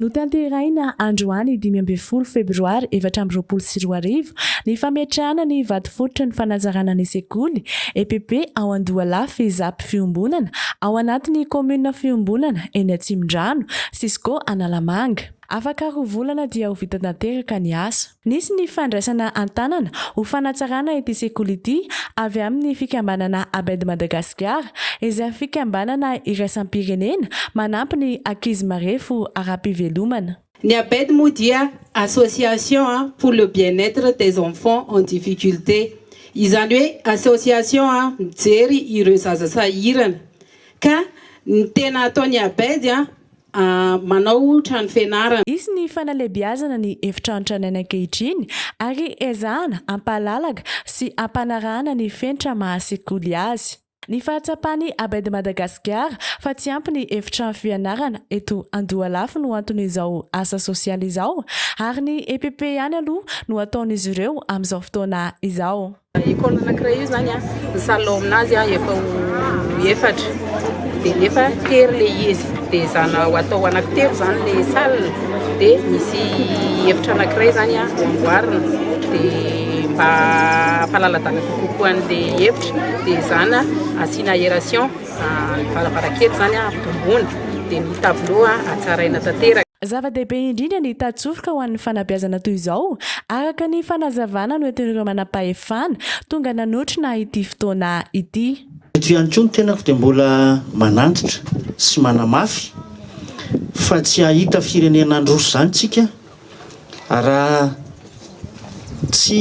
Notanterahina androany dimy ambin'ny folo febroary efatra amby roapolo sy roa arivo ny fametrahana ny vatofototry ny fanazarana ny sekoly, EPP, ao Andohalahy Fezapy Fiombonana, ao anatin'ny kaominina Fiombonana, eny Atsimondrano, Cisco Analamanga. Afaka roa volana dia ho vita tanteraka ny asa. Nisy ny fandraisana an-tanana ho fanatsarana ity sekoly ity avy amin'ny fikambanana Abed Madagascar, izay fikambanana iraisam-pirenena manampy ny ankizy marefo ara-pivelomana. Ny Abed moa dia Association pour le bien-etre des enfants en difficulté, izany hoe association mijery ireo zaza sahirana, ka ny tena ataon'ny Abed manao trano fianarana. Hisy ny fanalebiazana ny efitrano tranainy ankehitriny ary ezahana hampahalalaka sy hampanarahana ny fenitra maha sekoly azy. Ny fahatsapan'i Abed Madagasikara fa tsy ampy ny efitrano fianarana eto Andohalafy no anton'izao asa sosialy izao ary ny EPP ihany aloha no ataon'izy ireo amin'izao fotoana izao. École anankiray io zany a, ny salle ao amin'azy a efa ho efatra de nefa tery le izy de zana ho atao anankitelo zany le salle de misy efitra anankiray zany a ho amboarina de mba hampalaladala kokoa an'le efitra de zana asiana aération ny varavarankely zany a ampitomboina de ny tableau a hatsaraina tanteraka. Zava-dehibe indrindra ny tatsofika ho an'ny fanabeazana toy izao, araka ny fanazavana noentin'ireo manampahefana tonga nanotrona ity fotoana ity. Eto ihany koa ny tenako dia mbola manantitra sy manamafy fa tsy hahita firenena handroso izany isika raha tsy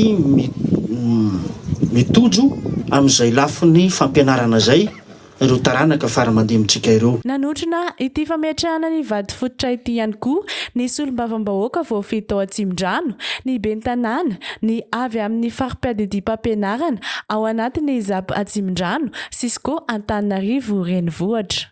mitojo amin'izay lafiny fampianarana izay ireo taranaka fara aman-dinintsika ireo. Nanotrona ity fametrahana ny vato fototra ity ihany koa ny solombavambahoaka voafidy tao Atsimondrano, ny ben'ny tanàna, ny avy amin'ny fari-piadidiam-pampianarana ao anatin'ny Zap Atsimondrano, Cisco Antananarivo Renivohitra.